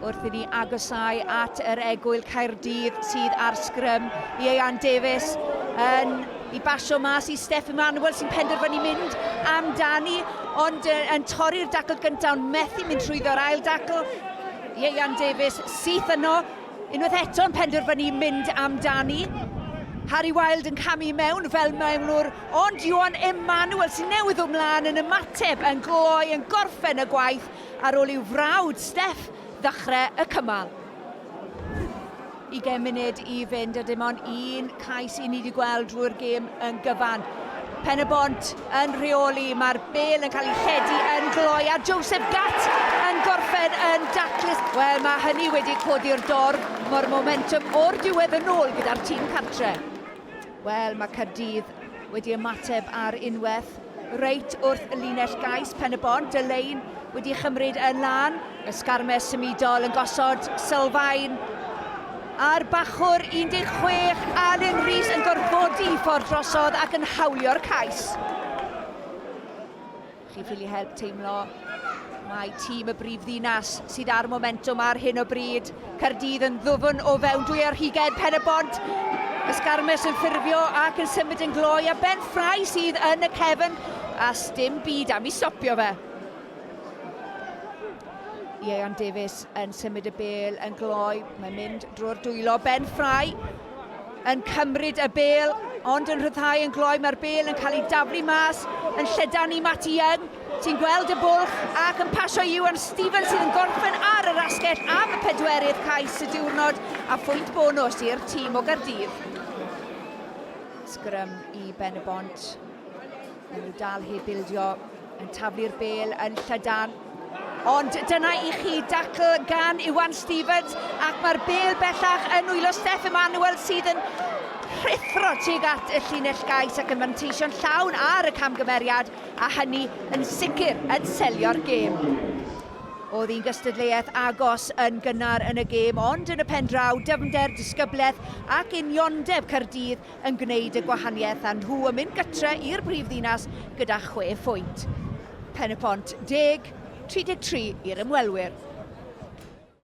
Wrth i ni agosau at yr egwyl Caerdydd sydd ar sgrym, Ieuan Davies yn i basio mas i Steff Emanuel sy'n penderfynu mynd amdani, ond yn torri'r dacl gyntaf ond methu mynd trwyddo'r ail dacl. Ieuan Davies syth yno, unwaith eto yn penderfynu mynd amdani. Harry Wilde yn camu i mewn fel mewnwr, ond Iwan Emanuel sy'n newydd ddod mlaen yn ymateb yn gloi yn gorffen y gwaith ar ôl i'w frawd, Steff, ddechrau y cymal. Ugain munud i fynd a dim ond un cais i ni wedi gweld drwy'r gêm yn gyfan. Pen y Bont yn rheoli, mae'r bel yn cael ei lledu yn gloi a Joseph Gatt yn gorffen yn daclus. Wel, mae hynny wedi codi'r dorf, mae'r momentum o'r diwedd yn ôl gyda'r tîm cartre. Wel, mae Caerdydd wedi ymateb ar unwaith reit wrth y linell gais Pen-y-bont. Delaine wedi chymryd yn lan. Ysgarmes symudol yn gosod sylfaen ar bachwr 16, Alun Rees yn gorfodi ffordd drosodd ac yn hawlio'r cais. Chi'n ffili help teimlo mai tîm y brif ddinas sydd â'r momentwm ar hyn o bryd. Caerdydd yn ddwfn o fewn dwy ar hugain pen y bont. Ysgarmes yn ffurfio ac yn symud yn gloi a Ben Ffrae sydd yn y cefn a sdim byd am i stopio fe. Ieuan Davies yn symud y bel yn gloi. Mae'n mynd drwy'r dwylo. Ben Ffrae yn cymryd y bêl, ond yn rhyddhau yn gloi. Mae'r bêl yn cael ei daflu mas yn llydan i Matty Young, sy'n gweld y bwlch ac yn pasio i Iwan Stevens sydd yn gorffen ar yr asgell am y pedwerydd cais y diwrnod a phwynt bonus i'r tîm o Gardydd. Sgrym i Ben y Bont. Maen nhw dal heb bildio, yn taflu'r bel yn llydan. Ond dyna i chi dacl gan Iwan Stevens ac mae'r bel bellach yn nwylo Steff Emanuel sydd yn rhithro tuag at y llinell gais ac yn fanteisio'n llawn ar y camgymeriad a hynny yn sicr yn selio'r gêm. Oedd hi'n gystadleuaeth agos yn gynnar yn y gêm ond yn y pen draw dyfnder, disgyblaeth ac uniondeb Caerdydd yn gwneud y gwahaniaeth a nhw yn mynd gytre i'r brif ddinas gyda chwe phwynt. Pen-y-pont deg, 33 i'r ymwelwyr.